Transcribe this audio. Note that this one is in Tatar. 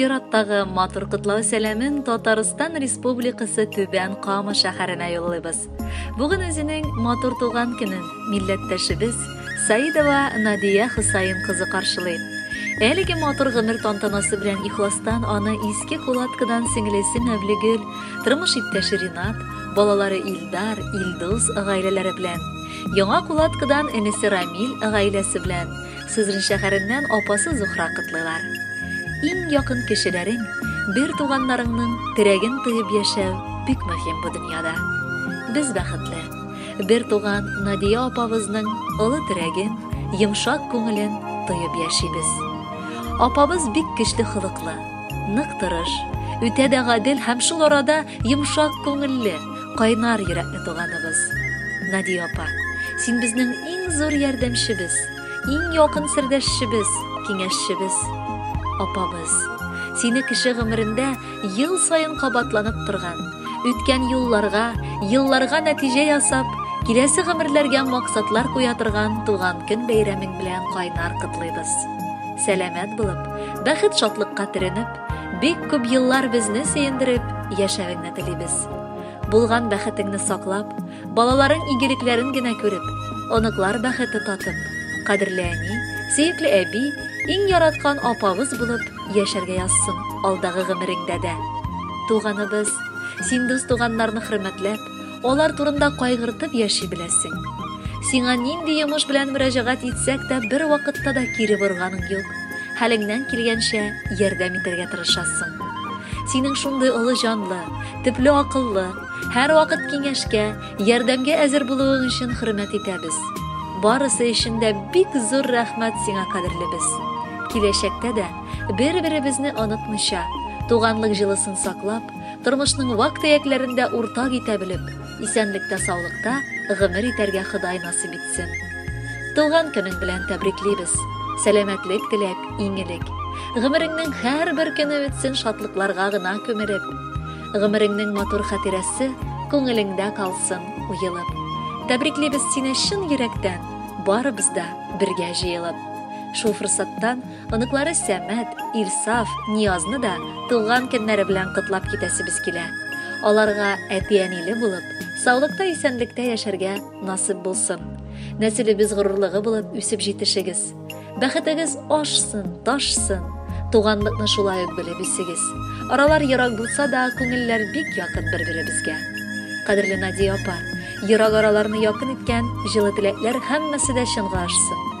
Чираттагы матур котлау сәламен Татарстан Республикасы Түбән Кама шәһәренә юллыйбыз. Бүген үзенең матур туган көнен милләттәшебез Саидова Надия Хусаин кызы каршылый. Әлеге матур гомер тантанасы белән ихластан аны иске кулаткадан сеңлесе Мәвлегөл, тормыш иптәше Ринат, балалары Илдар, Илдус гаиләләре белән Яңа Кулаткадан энесе Рамил гаиләсе белән, Сызрань шәһәреннән апасы Зухра котлыйлар. Иң якын кешеләрең, бертуганнарыңның терәген тоеп яшәү бик мөһим бу дөньяда. Без бәхетле. Бертуган Надия апабызның олы терәген, йомшак күңелен тоеп яшибез. Апабыз бик көчле холыклы, нык тырыш, үтә дә гадел һәм шул арада йомшак күңелле, Кайнар йөрәкле туганыбыз. Надия апа, син безнең иң зур ярдәмчебез, иң якын сердәшчебез, киңәшчебез, апабыз. Сине кеше гомерендә ел саен кабатланып торган, үткән юлларга, елларга нәтиҗә ясап, киләсе гомерләргә максатлар куя торган туган көн бәйрәмең белән кайнар котлыйбыз. Сәламәт булып, бәхет-шатлыкка төренеп, бик күп еллар безне сөендереп яшәвеңне телибез. Булган бәхетеңне саклап, балаларың игелекләрен генә күреп, оныклар бәхете татып, кадерле әни, сөекле әби, иң яраткан апабыз булып яшәргә язсын алдагы гомереңдә дә. Туганыбыз, син дус туганнарны хөрмәтләп, алар турында кайгыртып яши беләсең. Сиңа нинди йомыш белән мөрәҗәгать итсәк тә бер вакытта да кире борганың юк. Хәлеңнән килгәнчә ярдәм итәргә тырышасың. Синең шундый олы җанлы, Төпле акыллы, һәрвакыт киңәшкә, ярдәмгә әзер булуың өчен хөрмәт итәбез. Барысы өчен дә бик зур рәхмәт сиңа, кадерлебез. Киләчәктә дә бер-беребезне онытмыйча, туганлык җылысын саклап, тормышның вак-төякләрен дә уртак итә белеп, Исәнлектә саулыкта гомер итәргә ходай насыйп итсен. Туган көнең белән тәбриклибез. Сәламәтлек теләп, иңелек. Гомереңнең һәрбер көне үтсен шатлыкларга гына күмелеп. Гомереңнең матур хатирәсе күңелеңдә калсын уелып. Тәбриклибез сине чын йөрәктән, барыбыз да бергә җыелып. Шул форсаттан Оныклары Сәмәт, Илсаф, Ниязны да туган көннәре белән котлап китәсебез килә. Аларга әти-әниле булып, саулыкта-исәнлектә яшәргә насыйп булсын. Нәселебез горурлыгы булып үсеп җитешегез. Бәхетегез ашсын, ташсын. Туганлыкны шулай ук белеп үсегез. Аралар ерак булса да, күңелләр бик якын бер-беребезгә. Кадерле Надия апа, ерак араларны якын иткән җылы теләкләр һәммәсе дә чынга ашсын.